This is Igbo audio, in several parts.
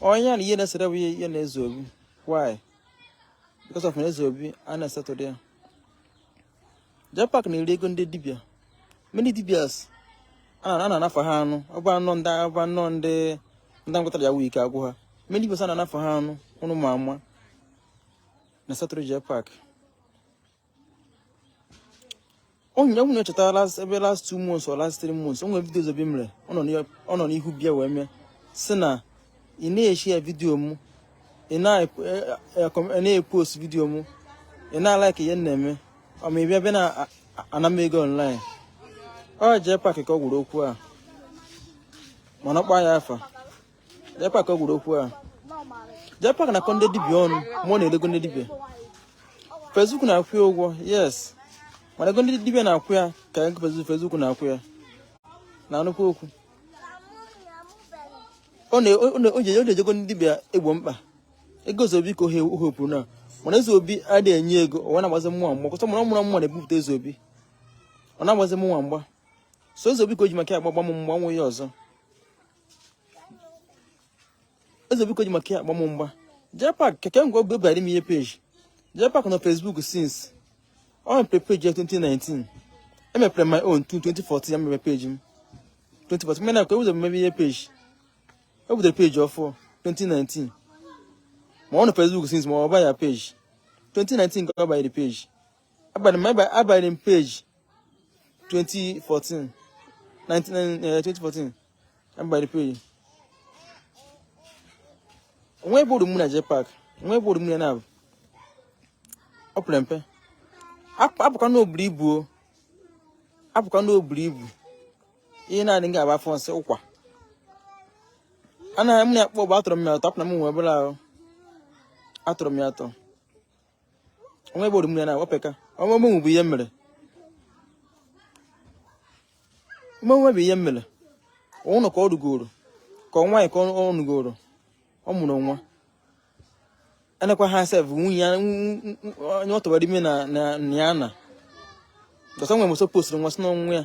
onye na ihe na-esere bụ ihe na Ezeobi why because of na Ezeobi a na-esetụrụ ya Japak na-eri ego ndị dibia many dibias a na-anafa ha ọnụ ọ bụ anọ ndị ọ bụ anọ ndị ndị ngwatara ya wike agwụ ha many dibias a na-anafa ha ọnụ ụnụ ma ama na-esetụrụ Japak onye nwunye chetara ebe last two months or last three months o nwere video Ezeobi mere ọ nọ n'ihu bịa wee mee si na ị na-eshare video m ị na-epost e, e, e, video m ị na-alike ihe m na-eme ọ mee ị bịa na-ana m ego online ọ Japak ka ọ gwara okwu a mana ọ kpa ya afa Japak ka ọ gwara okwu a. Japak na-akọ ndị dibịa ọnụ ma ọ na-eri ego ndị dibịa. Facebook na-akwụ ya ụgwọ yes mana ego ndị dibịa na-akwụ ya ka ego Facebook na-akwụ ya na-anụkwa okwu. Ọ na-eji ego ndị dibịa egbo mkpa ego Ezeobi ka ọ hope na mana Ezeobi adịghị enye ego ọ na-agbazi mụ mgba cause ọ mụ na-ebupụta Ezeobi ọ na-agbazi mụ mgba so Ezeobi ka o ji maka ya agbagba m mgba o nwe ihe ọzọ Ezeobi ka o ji maka ya agba m mgba Japak kee ke mgbe ọ bara n'ihe page Japak nọ Facebook since ọ mepere page ya 2019 m mepere my own 2014 ka m mepere page m 2014 mena ka ebu ụzọ mebe ihe page o bidoro page ọfụ 2019 ma ọ nọ Facebook since ma ọ ba ya page 2019 ka ọ banyere page abanyere m abanyere m page 2014 2014 abanyere m page o nwe ebe o ru mụ na Japak o nwe ebe o ru mụ na abụ o pere mpe apụkwa na o buru ibu o apụkwa na o buru ibu ihe na-adị nga agba afọ nsị ụkwa anaghị m na-akpọ bụ atọrọ m ya atọ apụ na m nwe ihe ọ bụla atọrọ m ya atọ o nwe ebe o ru mụ na o peka ọ mụ mụ bụ ihe mere mmenwe bụ ihe mere ọ nọ ka ọ lụgoro ka ọ nwaanyị ka ọ nụgoro ọ mụrụ nwa anakwa ha sef nwunye ya onye ọ tụbara ime na ya na dọsa nwe mụsọ postiri nwa si na ọ nwa ya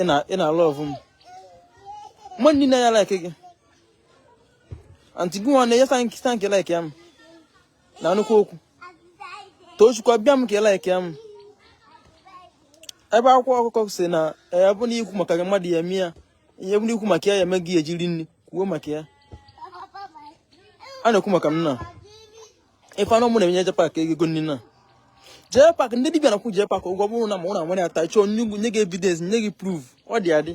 ị na ị na-alove m mmadụ niile ya like gị anti gị nwa na-enye tanki tanki like ya m na-anụkwa okwu Tochukwu abịa m ka ị like ya m ebe akwa ọkụkọ si na ya bụ na ikwu maka mmadụ ya eme ya ihe bụ na ikwu maka ya ya eme gị ejiri nri kwuo maka ya a na-ekwu maka m na ife anụ mụ na-enye jepak ego nri na jepak ndị dibịa na-akwụ jepak ụgwọ bụrụ na ma ụra nwere ata chọọ nye gị evidence nye gị proof ọ dị adị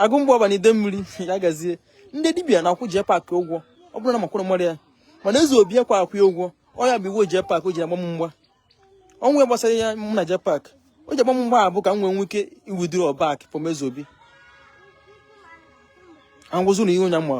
agụ mgbe ọbana ide mmiri ya gazie ndị dibịa na-akwụ jepak ụgwọ ọ bụrụ na makwụrụ mmadụ ya mana eze obi akwa akwụ ya ụgwọ ọ ya bụ iwe jepak o ji agba m mgba o nwe ihe gbasara ya mụ na jepak o ji agba m mgba bụ ka m nwee nwee ike withdraw back from eze obi angwụzụ na ihe onye mma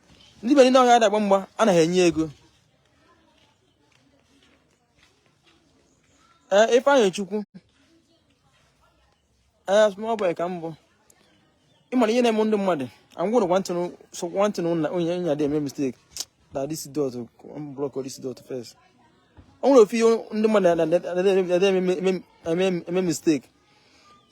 ndị be niile ọhịa adagba mgba anaghị enye ego ee eh, Ifeanyị Chukwu ee eh, small boy ka m bụ ịmara ihe na-eme ndị mmadụ angwụrụ one thing na onye nya dị eme mistake na this dot block this dot first o nwere ofu ihe ndị mmadụ na-eme mistake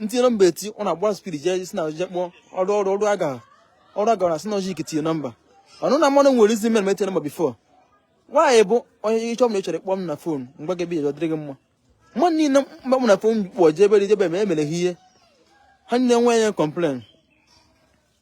m tie nọmba eti ọ na-agba speed jee si na oje kpọọ ọrụ ọrụ ọrụ aga ọrụ aga na sinojik tinye nọmba unu ama na o nwere reason mere m eti nọmba before why bụ onye ịchọ m na ịchọrọ kpọọ m na phone mgbe gị ebe dịrị gị mma mmadụ niile mgbe m na phone kpọọ jebe jebe ma emere ha ihe ha niile nwe ya complain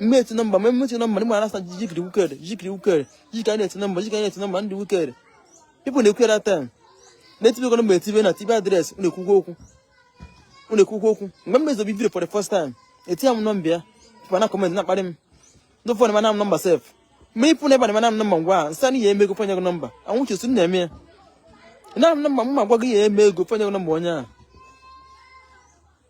mme eti nọmba mme mme eti nọmba ndị mara asa jikiri wicked jikiri wicked jikiri anyị na-eti nọmba jikiri anyị na-eti nọmba ndị wicked people na-ekwe na tem na-etibe ego nọmba etibe na tibe address unu ekwukwa okwu unu ekwukwa okwu mgbe m me eze obi video for the first time eti ya m nọmba ya pụta na comment na-akparị m ndị ụfọdụ mana m nọmba sef ma ịpụ na ebe a na-emana m nọmba ngwa a nsa na ihe eme ego fanye gị nọmba anwụchi otu m na-eme ya na m nọmba m ma gwa gị ya eme ego fanye gị nọmba onye a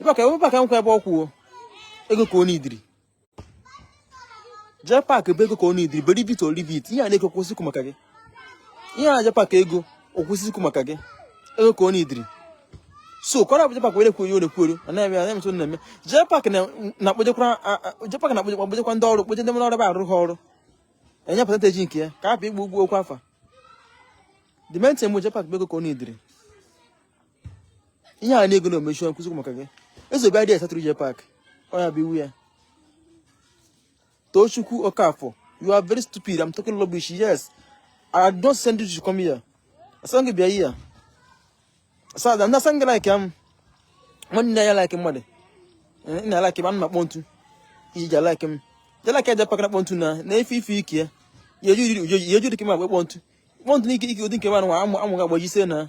ịbaka ebe paka nkwa ebe ọ kwụ ego ka ọ needịrị jepak bụ ego ka ọ needịrị beri bit oribit ihe a na-ego kwụsịkwu maka gị ihe a jepaka ego okwụsịkwu maka gị ego ka ọ needịrị so kọrọ abụ jepak were kwuo ole kwuoro ọ na-eme na emetụ na-eme jepak na-akpọjekwara jepak na-akpọjekwa ndị ọrụ kpoje ndị ọrụ ebe arụ ha ọrụ enye percentage nke ya ka a pụ ịkwụ ụgwọ okwu afa the main thing mụ jepak bụ ego ka ọ needịrị ihe a na-ego na omechi ọkụzi maka gị eze obi adịghị asatụrụ jepak ọ ya bụ iwe ya Tochukwu Okafor you are very stupid I'm talking rubbish yes I don't send you to come here asị m gị bịa here asada ndị asị m gị like ya m nwanne ya like mmadụ eh, nna like m ana m akpọ ntu iji ja like m ja like ya jepak kpọ ntu na na ife ife ike ya ya eju dị ka m agba kpọ ntu kpọ ntu n'ike ike ụdị nke m anụ amụ amụ ga-agbaji ise na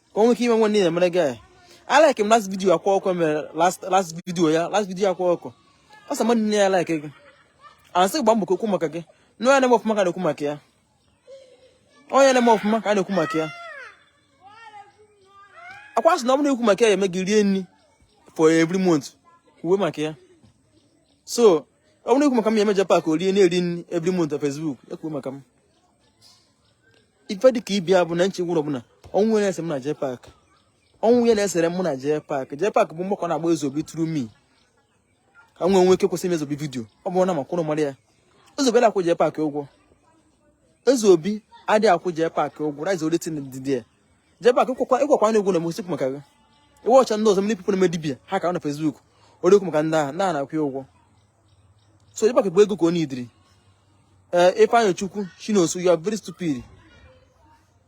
ka o nwee ike ime nwe niile mere gị I like him last video Akwa Ọkụkọ mere last last video ya last video Akwa Ọkụkọ ọ sị mmadụ nne ya like gị asị gba mbọ ka e kwuo maka gị na onye na-eme ọfụma ka a na-ekwu maka ya onye na-eme ọfụma ka a na-ekwu maka ya akwa sị na ọ bụrụ ekwu maka ya eme gị rie nri for every month kwuwe maka ya so ọ bụrụ ekwu maka m ya eme JPAC o rie na-eri nri every month na Facebook ekwuwe maka m ife dịka ibi ya bụ na nche gwụrụ bụ na o nwe ihe na-ese m na JPAC o nwe ihe na-esere mụ na JPAC JPAC bụ mgba ka ọ na-agba Ezeobi through me ka m wee nwee ike kwụsị ime Ezeobi video ọ bụrụ na maka unu mara ya Ezeobi adịghị akwụ JPAC ụgwọ Ezeobi adịghị akwụ JPAC ụgwọ rice oletin dị dị JPAC ịkwakwa ịkwakwa na egwu na mosik maka gị iwe ọcha ndị ọzọ ndị people na-eme dibia ha ka na Facebook ori okwu maka ndị ahụ na na-akwụ ya ụgwọ so JPAC bụ ego ka ọ na-ediri ee eh, Ifeanyị Chukwu Chinoso you are very stupid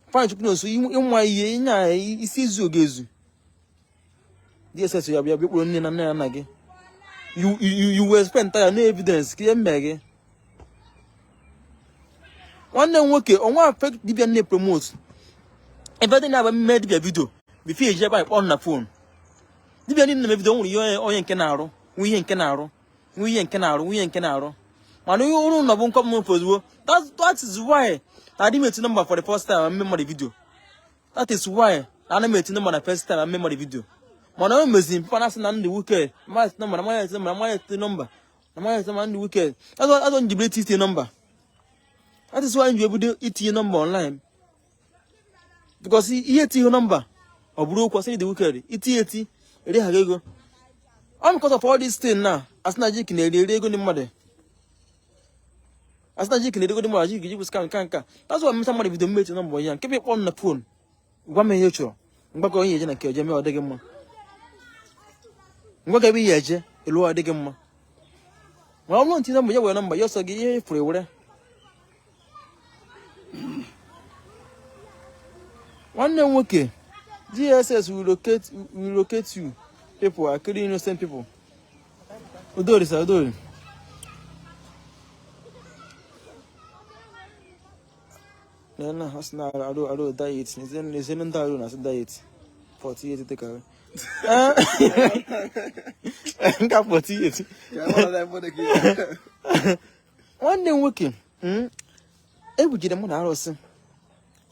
Ifeanyị Chukwu Chinoso ịnwa ihe ịnya isi izu oge ezu DSS ya-abịa bịa kpụrụ nne na nna ya nna gị you will explain tire no evidence ka ihe mee gị nwanne m nwoke o nwe fake dibia m na-promote ebe dị na-agba m me dibia video before eji ebe anyị kpọọ na phone dibia niile na-eme video nwere ihe onye nke na-arụ nwe ihe nke na-arụ nwe ihe nke na-arụ nwe ihe nke na-arụ mana ihe ọrụ unu bụ ịkpọ m ozugbo that is why na adị m eti nọmba for the first time m me mmadụ video that is why ana m etinye mana first time ame mmadụ vidio mana o meziri papa na-asị na ndị wike mmadụ etinye nọmba na mmadụ etinye nọmba na mmadụ etinye nọmba na mmadụ etinye nọmba ndị wike azọ njibere iti itinye nọmba that is why nji ebido itinye nọmba online because ihe etinye nọmba ọ bụrụ okwu asị dị wike itinye eti eri ha ego ọ because of all this thing na asị na jik na-eri eri ego ndị mmadụ asị na jik na-eri ego ndị mmadụ jik jibụ scam nka nka that's why m mecha mmadụ video m eti nọmba ya nke bụ ịkpọ m na phone gwa m ihe ị chọrọ mgbakọ ihe eje na nke eje mee ọ dịghị mma ngwa ga ebe ihe eje elu ọ dịghị mma ma ọ bụrụ m tinye nọmba ya were nọmba ya ọ sọ gị ihe ị fụrụ i were nwanne m nwoke dss will locate you people are killing innocent people Udori sa udori. Nana hasna aro aro diet. Nizen nizen nda aro nas diet. 48 take away. Nka 48. Nwanne nwoke, hmm? ebujide mụ na arụsị.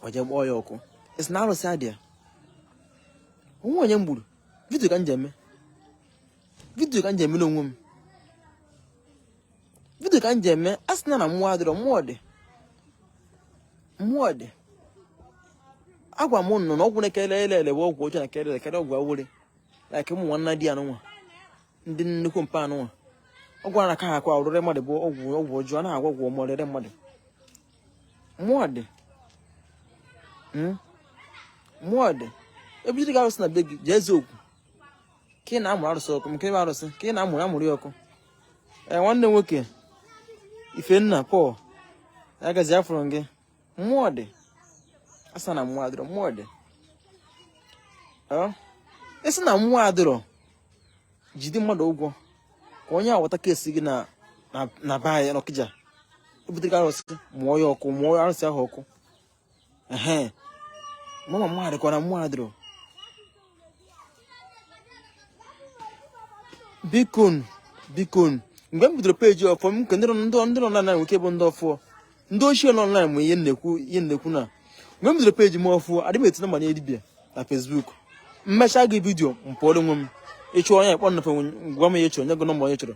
Ọ je-agba ya ọkụ. Ị sị na arụsị adịa. O nwe onye m gburu. Video ka m je eme. vidio ka m ji emere onwe m vidio ka m ji eme a sị na na mmụọ adịrọ mmụọ dị mmụọ dị agwa m ụnụ na ọgwụ na-aka ele ele bụ ọgwụ ọjọọ na-aka ele ele ọgwụ awele like ụmụ nwanna di anụnwa ndị nnukwu mpa anụnwa ọgwụ a na-aka ha akwa ọrụre mmadụ bụ ọgwụ ọgwụ ọjọọ a na-agwọ ọgwụ ọma ọrịre mmadụ mmụọ dị mmụọ hmm? dị ebe iji ga-arụsị na be gị jee eziokwu ka ị na-amụrụ arụsị ọkụ nke ebe arụsị ka ị na-amụrụ amụrụ ya ọkụ ee nwanne nwoke ifenna paul agazi afụrụ gị mmụọ dị a sị na mmụọ adịrọ mmụọ dị ị sị na mmụọ adịrọ jide mmadụ ụgwọ ka onye ahụ wota kesi gị na be anyị n'ọkịja ebutere arụsị mụọ ya ọkụ mụọ arụsị ahụ ọkụ mama mmadụ kwa na mmụọ adịrọ bikonụ bikonụ mgbe m bidoro peji ọfụụ m nke ndị nọ na nwoke bụ ndị ọfụụ ndị ochie nọ online ma ihe m na-ekwu ihe m na-ekwu na mgbe m bidoro peji m ọfụụ adị m etinye manye dibia na facebook m mechaa gị vidio m pụọrọ onwe m ịchụ onye kpọ nnafe gwa m ihe ị chọrọ nye gị nọmba onye ị chọrọ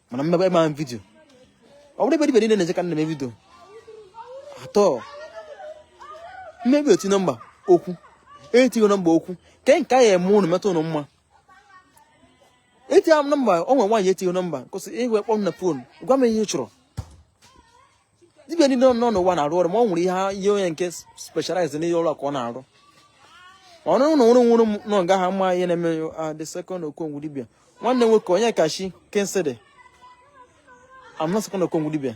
mana m mebe ma vidio ọ bụrụ ebe ibe niile na-eche ka nna m vidio atọ mmebi oti nọmba oku etii nọmba oku ke nke a ya eme ụnụ metụ ụnụ mma etinye m nọmba ọ nwere nwaanyị etighị nọmba kwụsị ịhụ ekpọ m na fon gwa m ihe ị chọrọ dibia niile nọ n'ụwa na-arụ ọrụ ma ọ nwere ihe ihe onye nke specialize n'ihe ọrụ ka ọ na-arụ ọrụ na nwụrụ nwụrụ nọ nga ha ma ihe na-eme ah, the second okongwu dibia nwanne nwoke onyekachi kensede I'm not second okongwu dibia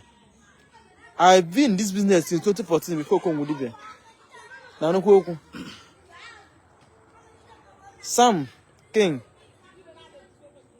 I've been in this business since 2014 before okongwu dibia na nnukwu okwu Sam King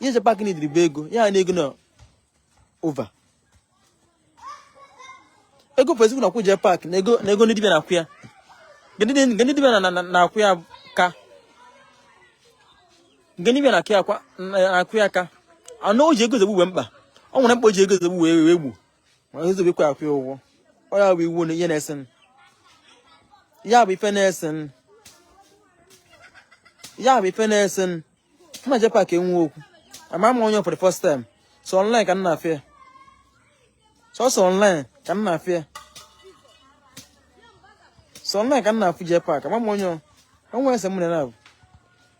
ihe j pac n'idiri bụ ego ya na ego na ova ego facebook na-akwụ j pac na ego ndị dibịa na-akwụ ya nke ndị dibịa na-akwụ ya ka nke ndị dibịa na-akwụ ya ka anụ o ji ego zogbu wee mkpa ọ nwere mkpa o ji ego zogbu wee wee gbuo ma nzube kwa akwụ ụgwọ ọ ya bụ iwe na ihe na-ese m ya bụ ife na-ese m ya bụ ife na-ese m mụ na j pac enwe okwu ama m onye for the first time sọ online ka m na-afụ ya sọsọ online ka m na-afụ ya sọ online ka m na-afụ j pac ama m onye onwe ese m na na-abụ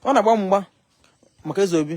ọ na-agba mgba maka ezeobi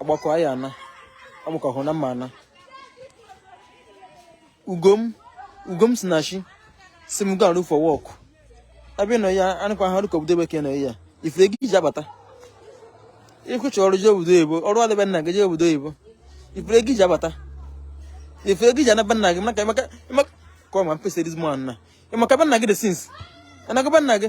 ọgbakọ anyị ana amụkọhụ na mma ana ugom ugom Sinachi sị m ga look for work abịa nọ ya anụkwa ha rụkọ obodo bekee nọ ya ifere gị iji abata ị ka chọ ọrụ jee obodo oyibo ọrụ adị be nna gị jee obodo oyibo ifere gị iji abata ifere gị iji ana be nna gị maka maka maka kọma mpesa dizmọ na ị ma ka be nna gị dị since anaga be nna gị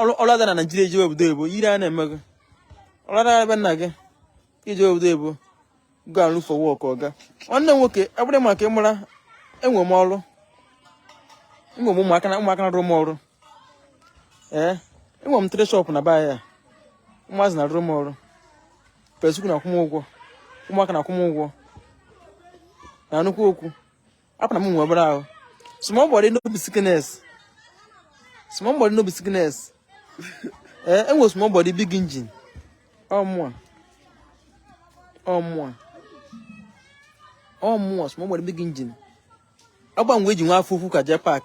ọlụ adị na Naijiria i jee obodo oyibo ihere a na-eme gị ọlụ adị be nna gị i jee obodo oyibo go and look for work ọga nwanne m nwoke abụrụ maka ịmara enwe m ọrụ enwe m ụmụaka na ụmụaka na-arụ m ọrụ ee enwe m three shop n'Aba ya ụmụazị na-arụ m ọrụ Facebook na-akwụ m ụgwọ ụmụaka na-akwụ m ụgwọ na nnukwu okwu hapụ na m nwe obere ahụ small body no be sickness small body no be sickness ee enwe small body big engine ọ mụa ọ mụa ọ mụa small body big engine agba mgbe eji nwe afọ ukwu ka Jpac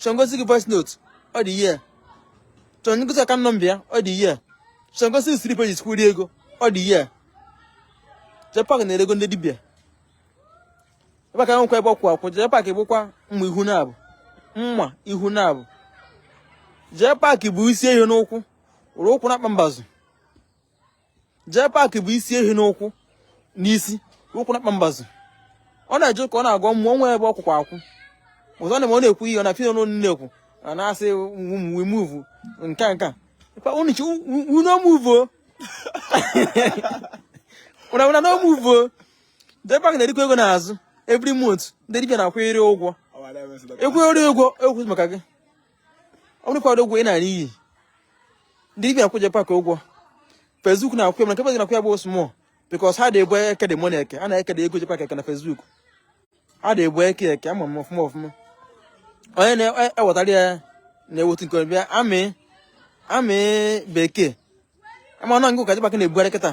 chọọ m gosi gị voice note ọ dị ya chọọ m gosi account number ya ọ dị ya chọọ m gosi gị slip eji kwụrụ ego ọ dị ya Jpac na-eri ego ndị dibịa ebe aka nwekwa ebe ọ kwụ akwụ Jpac bụkwa mma ihu naabọ mma ihu naabọ Jpac bu isi ehi nnukwu were ụkwụ na-akpa mbazụ Jpac bu isi ehi nnukwu n'isi ụkwụ na-akpa mbazụ ọ na-eje ka ọ na-agọ mmụọ nwe ebe ọ kwụkwa akwụ ọzọ na ọ na-ekwu ihe ọ na-afụ n'ọnụ na-ekwu a na-asị we move nke nke una move una una no move Jpac na-erikwa ego n'azụ every month ndị dibịa na-akwụnyere ụgwọ ekwunyere ụgwọ ekwu maka gị ọ bụrụ kwado ụgwọ ị na-ana iyi ndị dibịa akwụ Jpac ụgwọ Facebook na-akwụ ya mana nke Facebook na-akwụ ya bụ small because ha na-ebu eke dị mona eke a na-ekede ego jekwa eke na Facebook a na-ebu eke eke ama m ọfụma ọfụma onye na-ewetara ya na-ewetu nke bịa amị amị bekee ama na ngụ ka Jpac na-ebugharị kịta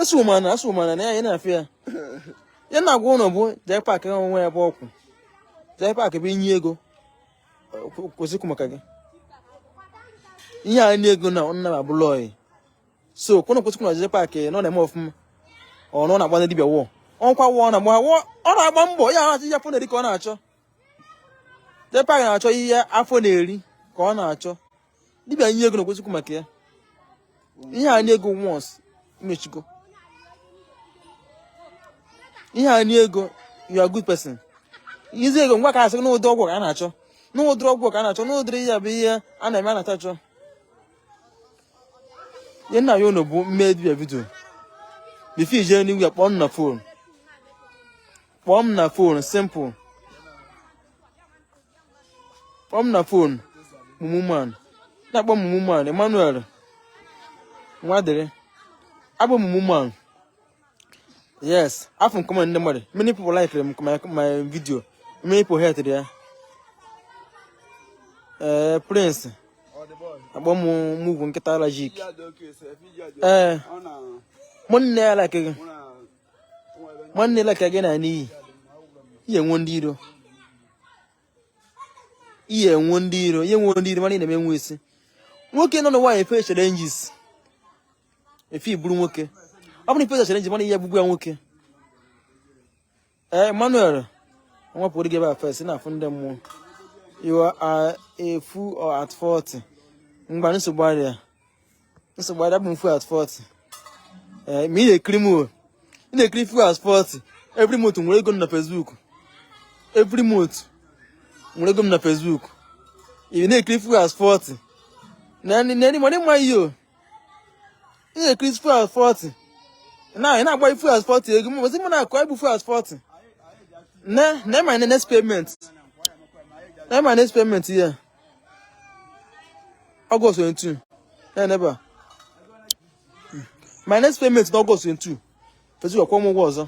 eso mana eso mana na ya na-afịa ya ya na-agwa ụnụ bụ Jpac onwe ya bụ ọkwụ Jpac bụ i nye ego kwụsị ikwu maka gị ihe a nye ego na nna m abụla oyi so kwụnụ kwụsị ikwu na Jpac na ọ na-eme ọfụma ọ nọ na-agba ndị dibịa wọ ọkwa wọ na agba wọ ọ na-agba mbọ ya na-achọ ihe afọ na-eri ka ọ na-achọ Jpac na-achọ ihe afọ na-eri ka ọ na-achọ dibịa nye ego na kwesịkwu maka ya ihe a nye ego once imechigo ihe a nye ego you are good person izi ego ngwa ka asị n'ụdị ọgwụ ka a na-achọ n'ụdịrị ọgwụ ka a na-achọ n'ụdịrị ihe bụ ihe a na-eme a na-achọ ihe m na-ayọ unu bụ mme dibịa video before ị je anywhere kpọọ m na fon kpọọ m na fon simple kpọọ m na fon mumu man na-akpọ m mumu man Emmanuel Nwadịrị akpọ m mumu man yes afụ m comment ndị mmadụ many people like my video many people hate ya ee eh, prince akpọ m mugu nkịta alajik ee eh, mụ nne ya like gị nwanne like gị na n'iyi ị ya-enwe ndị iro ị ya-enwe ndị iro ị ya-enwe ndị iro mana ị na-eme nwa isi nwoke nọ n'ụwa e-face challenges if ị bụrụ nwoke ọ bụrụ ị face challenges mana ihe gbugbu ya nwoke ee Emmanuel wepụrụ gị ebe a face na-afụ ndị mmụọ you are a fool at 40 ngwa nsogbu adịghị Nsogbu adịghị kpọọ m fool at 40. Eh, ma ị na-ekiri m o. Ị na-ekiri fool at 40. Every month m were ego m na Facebook. Every month m were ego m na Facebook. Ị na-ekiri fool at 40. Na ni na ni money ma yo. Ị na-ekiri fool at 40. Na ị na-agba fool at 40 ego m. Mọzi m na-akọ ibu fool at 40. Na na my next payment. Na my next payment here. August 22 ya n'ebe a my next payment na August 22 Facebook akwụọ m ụgwọ ọzọ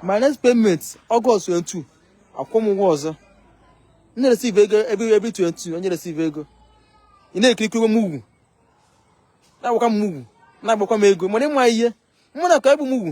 my next payment August 22 akwụọ m ụgwọ ọzọ m na-receive ego every every 22 onye receive ego ị na-ekirikwa mugu na-akpọkwa m mugu na-agbakwa m ego mana ị ma onye mụ na gị ka bụ mugu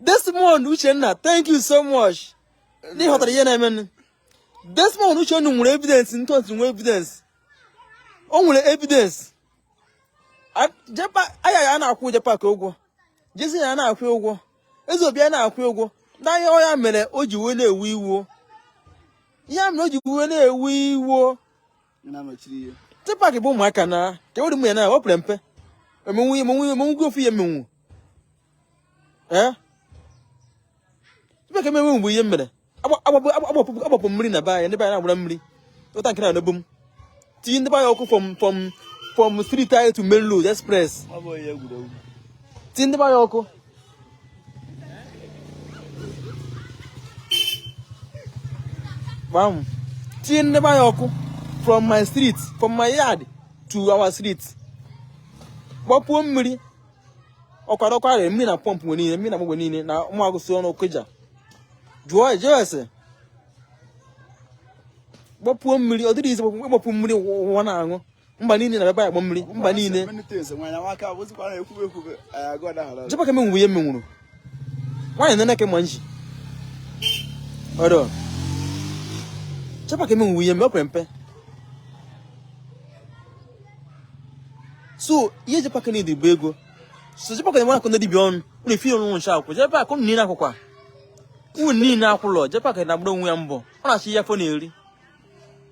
Desmond Uchenna thank you so much ndị hụtara ihe na-emenụ Desmond Uchenna nwere evidence ntọntị nwee evidence o nwere evidence aya ya na-akwụ Jepak ụgwọ Jesi ya na-akwụ ụgwọ Ezeobi ya na-akwụ ụgwọ n'anya ọ ya mere o ji wee na-ewe iwe ya mere o ji wee na-ewe iwe Jepak ka bụ ụmụaka na ka ewere ụmụ ya na ọ pere mpe emenwu emenwu emenwu gị ofu ya emenwu ee Jepak emenwu mgbe ihe mere agbapụ mmiri na be anyị ndị be anyị na-agbara mmiri ụta nke na-adọgbu m tinye ndị be anyị ọkụ from from from street to main road express tinye ndị be anyị ọkụ gbam tinye ndị be anyị ọkụ from my street from my yard to our street gbapuo mmiri ọkwara ọkwara mmiri na pọmpụ mgbe niile mmiri na mgbe niile na ụmụ agụsị ọnụ okija jụọ ese gbapuo mmiri ọ dịrọ easy ịgbapu mmiri ụwa na-aṅụ mba niile na baba ya gbọ mmiri mba niile jepak emenwu ihe m menwuru nwaanyị nene ka ma nji ọdọ jepak emenwu ihe m mere ọ pere mpe sọ ihe jepak need bụ ego so jepak na-enwe akọ ndị dibịa ọnụ unu efi ọnụ ncha akwụ jepak unu niile akwụkwa unu niile akwụlọ jepak ka na-agbara onwe ya mbọ ọ na-achụ ihe ọ na-eri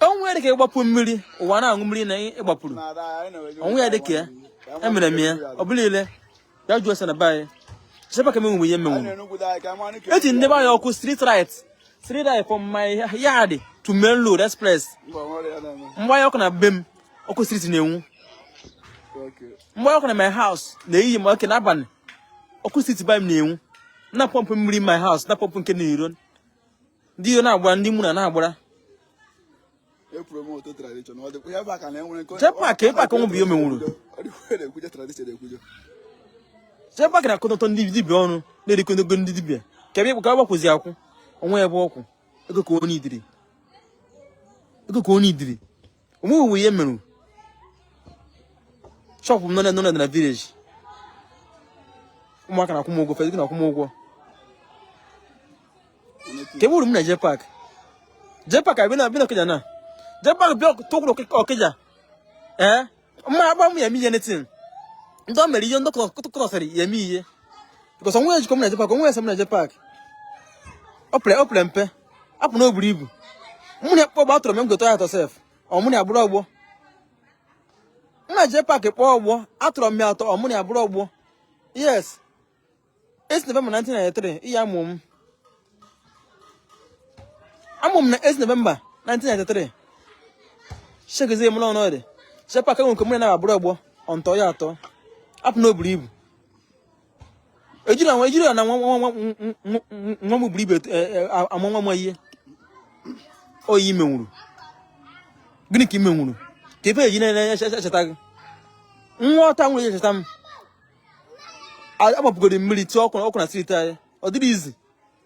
o nwe ihe dịka ịgbapu mmiri ụwa na-aṅụ mmiri na ịgbapuru o nwe ihe dịka ya emere m ya ọ bụla ile ya jụọ ese na be anyị jepak emenwu ihe m menwu eji ndị be anyị ọkụ street right from my yard to main road express m gbanye ọkụ na be m ọkụ street na-enwu m gbanye ọkụ na my house n'ehihie ma ọ bụ n'abalị ọkụ street be m na-enwu na pọmpụ mmiri my house na pọmpụ nke n'iro ndị ihe na-agbara ndị mụ na na-agbara jepak ọnụ bụ ihe o menwuru jepak na-akọtọ ndị dibịa ọnụ na-erikọ ego ndị dibịa kee ebe jepak kwụzi akwụ o nwe ebe ọ kwụ ego ka ọ needịrị o menwughị ihe m mere shop m nọ na village ụmụaka na-akwụ m ụgwọ fezikị na-akwụ m ụgwọ kee ebe uru m na jepak jepak abịana okija na jepak bịa tukwuru okija ee mma akpọ m ya eme anything ndị ọ mere ihe ndị kọtọsịrị ya eme ihe because o nwe ihe jikọ m na jepak o nwe ihe sere m na jepak ọ pere mpe apụ na o buru ibu mụ na ya kpọọ ọgbọ atọrọ m m ga-atọ ya atọ sef ọ mụ na ya abụrọ ọgbọ na jepak kpọọ ọgbọ atọrọ m ya atọ ọ mụ na ya abụrọ ọgbọ yes 8th november 1993 year a mụ m a mụ m na 8th november 1993 checkizie m n'ọnụ ọdị jepak enwe nke mụ na ya abụrọ ọgbọ ọ m tọ ya atọ apụ na o buru ibu ejirọ anwa ejirọ na nwa nwa nwa nwa m buru ibu e, e, ama nwa m ihe ọ ihe i menwuru gịnị ka i menwuru kee ihe eji na-echeta gị nwa ọta nwere ihe eji echeta m agbapugoro mmiri tie ọkụ na street anyị ọ dịrọ easy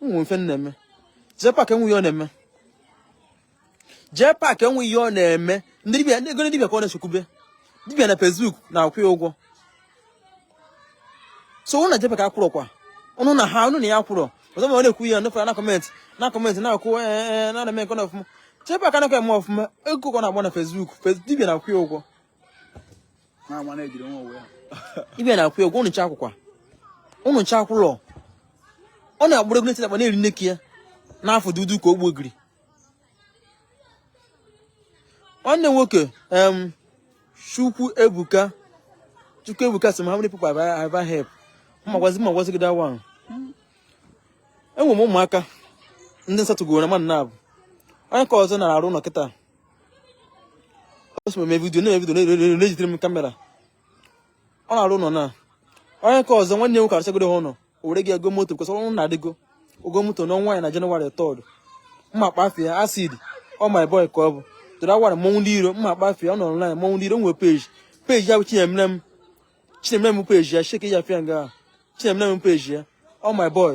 nwere ife ọ na-eme jee pak enwe ihe ọ na-eme jee pak enwe ihe ọ na-eme ndị dibịa ndị ego dibịa ka ọ na-echekwube dibịa na Facebook na-akwụ ya ụgwọ so ụnụ na jee pak akwụrọ kwa ụnụ na ha ụnụ na ya akwụrọ ọzọ ma ọ na-ekwu ya nụfụra na comment na comment na-akwụ ee eh, eh, eh, na-eme nke na ọfụma jee pak anaghị eme ọfụma ego ka ọ na-agba na Facebook dibịa na-akwụ ya ụgwọ ibia na-akwụ ya ụgwọ ụnụ ncha akwụkwa ụnụ ncha akwụlọ ọ na-agbụrụ egwu na-eti akpa na-eri nneki ya n'afọ dudu ka ogbo giri nwanne nwoke Chukwuebuka Chukwuebuka sị m how many people have I help ma gwazi ma gwazi gị that one enwere m ụmụaka ndị m settlegoro na mmadụ naabọ onye nke ọzọ na-arụ ụlọ kịta o so m eme video na video na-ejidere m camera ọ na-arụ ụlọ na onye nke ọzọ nwanne nwoke arụchagodo ha ụlọ o nwere ike igo moto because ụnọ adịgo o go moto n'ọnwa ya na January third mma kpafie Acid ọ my boy ka ọ bụ tụrụ awara mmọnwụ ndị iro mma kpafie ọ nọ online mmọnwụ ndị iro nwere page page ya bụ Chinemerem Chinemerem page ya checkie ya pịa nga Chinemerem page ya ọ my boy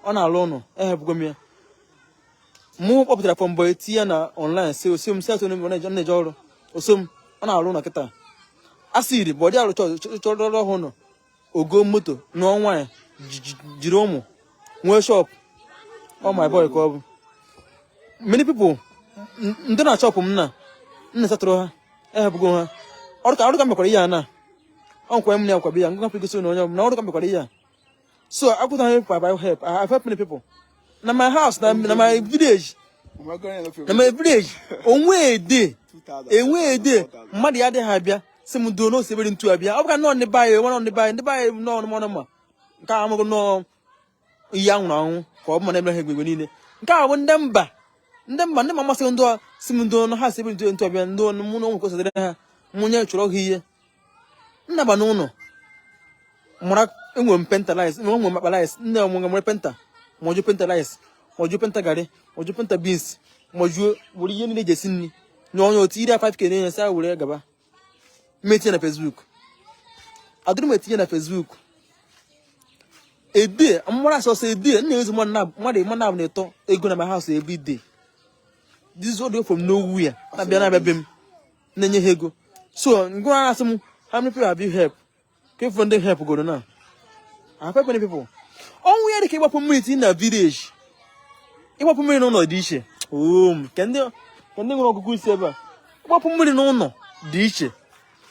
ọ na-alụ ụnọ ehepụgo m ya mụ kpọpụtara from boy tinye ya na online sị o so m set na-eje ọrụ o so m ọ na-alụ ụlọ kịta Acid bụ ọ dị alụchara ha ụnọ o go moto n'ọnwa ya jiri ụmụ nwee shop ọ my boy ka ọ bụ many people ndị nọ na shop m na m settlerụ ha ehepụgo ha ọrụ ka ọrụ ka mekwara ihe a na ọ nkwa m na-akwabe ya ngwa pịgosi na onye ọbụla ọrụ ka mekwara ihe a so akwụta ha ekwa by help I have helped many people na my house na na my village na my village o nwe day e nwe day mmadụ ya adịghị abịa sị m ndị ọnụ 72 abịa ọ bụka nọọ ndị be anyị nwa nọ ndị be anyị ndị be anyị nọọ mmanụ ma nke a amaghị nọọ ihe a nwụrụ anwụ ka ọ bụ mana ebere ha egbe niile nke a bụ ndị mba ndị mba ndị ma masị ndị sị m ndị ọnụ ha 72 abịa ndị ọnụ mụ na ụmụ kwesịrị ha mụ nyechara ha ihe naba n'ụlọ mara enwere m painter rice enwere m akpa rice nne m nwere painter majuo painter rice majuo painter garị majuo painter beans majuo were ihe niile e ji esi nri nye onye tiiri 5 k na-enye sị ha were gaba m etinye na Facebook adịrọ m etinye na Facebook edie mmara asọsọ edie nna ezi mmadụ ịma na abụ na-eto ego na my house every day this widow from nowhere na-abịa na-abịa be m na-enye ha ego so ngwa asị m how many people have you help ka ife ndị help goro na I have helped many people o nwee ihe dịka ịgbapụ mmiri tii na village ịgbapụ mmiri n'ụlọ dị iche oom um, ka ndị nwere ọgụgụ isi ebe a ịgbapụ mmiri n'ụlọ dị iche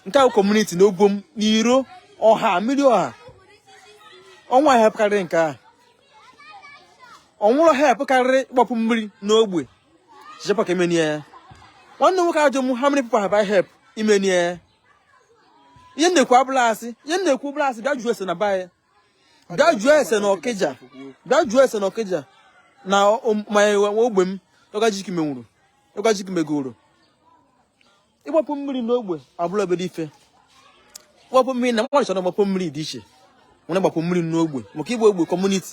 entire community na ogbe m na iro ọha mmiri ọha o nwere ihe karịrị nke ahụ o nwere help karịrị ịgbapụ mmiri n'ogbe jepak emenie ya nwanne nwoke ajụọ m how many people have I help imenie ya ihe m na-ekwu abụla asị ihe m na-ekwu bụrụ asị bịa jụọ ese na be anyị bịa jụọ ese na ọkịja bịa jụọ ese na ọkịja na mmanya ogbe m ọgajiki menwuru ọgajiki megoro ịgbapụ mmiri n'ogbe abụla obere ife gbapụ mmiri na mmadụ chọrọ gbapụ mmiri dị iche nwanne gbapụ mmiri n'ogbe maka ịgba ogbe community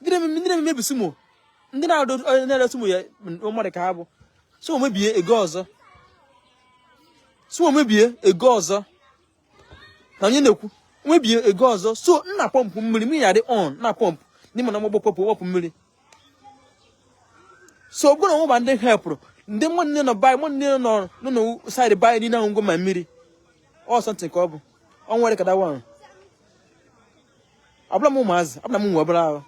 ndị na-emebi sumo ndị na-ere sumo ya mmadụ ka ha bụ sumo mebie ego ọzọ sumo mebie ego ọzọ na onye na-ekwu mebie ego ọzọ so nna pọmpụ mmiri mmiri ya dị on na pọmpụ n'ime na mgbagbo pọmpụ wepụ mmiri so ọ bụrụ na ọmụba ndị helpụrụ ndị nwanne nọ be anyị nwanne nọ nọ na side be anyị niile ahụ ngwa ma mmiri or something ka ọ bụ ọ nwere ka dawa ahụ abụla m ụmụazị abụla m nwe obere ahụ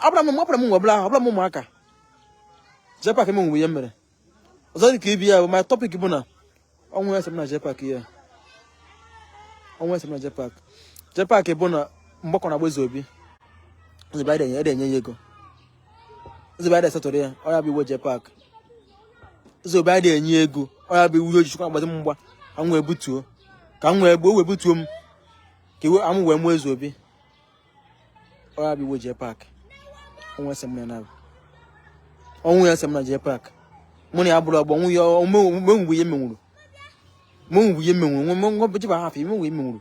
abụla m abụla m nwe obere ahụ abụla m ụmụaka jepak emenwubu ihe m mere ọzọ dị ka ibe ya bụ my topic bụ na o nwee ihe ese m na jepak ya o nwee ihe ese m na jepak jepak bụ na mgbakọ na agba ezeobi ebe adị enye ya ego ezeobi adị esettle ya ọ ya bụ iwe jepak ezeobi adị enye ego ọ ya bụ iwe o ji chọkwa agbazi m mgba ka m wee butuo ka m wee gbuo wee butuo m ka iwe amụ wee mụọ ezeobi ọ ya bụ iwe jepak o nwee ese m na nabụ o nwee ihe ese m na jepak mụ na ya abụla ọgbọ nwụ ya o menwubu ihe m menwuru menwubu ihe m menwuru nwe nwe nwe bụ jiba hafụ i menwubu ihe m menwuru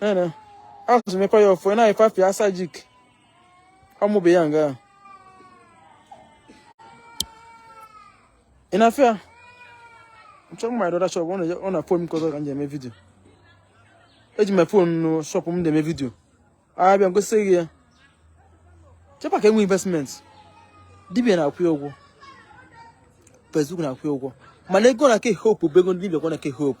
Ene, asụsụ mekwa ya ọfọ, na ifafi asajik. Ọmụbe ya nga. Ị na-afụ ya? Nchọrọ mma the other shop, ọ na fon m nke ọzọ ka m ji eme vidio. Eji m fon nọ shop m na-eme vidio. Abịa m gosi gị ya. Jepak enwe investment. Dibia na-akwụ ya ụgwọ. Facebook na-akwụ ya ụgwọ. Mana ego na ke hope bụ ego ndị dibia kwa na ke hope.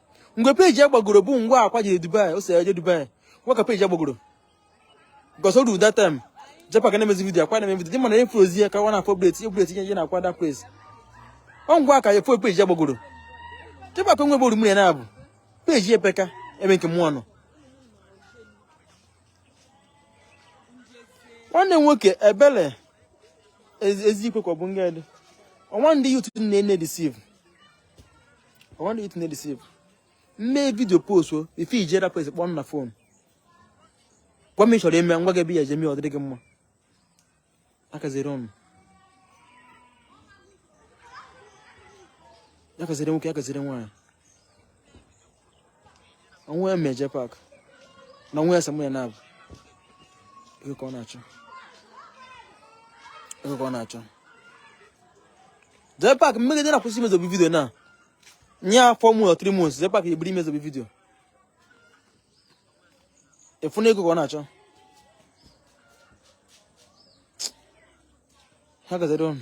mgbe peji ya gbagoro bụ mgbe akwa jere dubai o so ya je dubai mgbe ahụ ka peji ya gbagoro because all that time jepak a na-emezi vidio akwa na-eme vidio dị mana influence ya ka nwa na-update update ihe ihe na akwa that place ọ mgbe ahụ ka efu peji ya gbagoro jepak enwebe orumiri na abụ peji epeka ebe nke mụọ nọ nwanne m nwoke ebele ezi ikwe ka ọ bụ nga dị ọnwa ndị youth unu na-e deceive I want you to know deceive. Mee vidio post o, ife i ji rapụ esi kpọọ m na fon. Gwa m ị chọrọ ime ngwa gị ebe ya eje mee ọ dịrị gị mma. Akaziri ọnụ. Ya kaziri nwoke, ya kaziri nwaanyị. Onwe ya meje pak. Na onwe ya samụ ya na-abụ. Ego ka ọ na-achọ. Jee pak mmiri dị na kwụsị imezobi vidio na nya four months or three months jee pak ebiri imezobi vidio ị fụ na ego ka ọ na-achọ ha kaziri ọnụ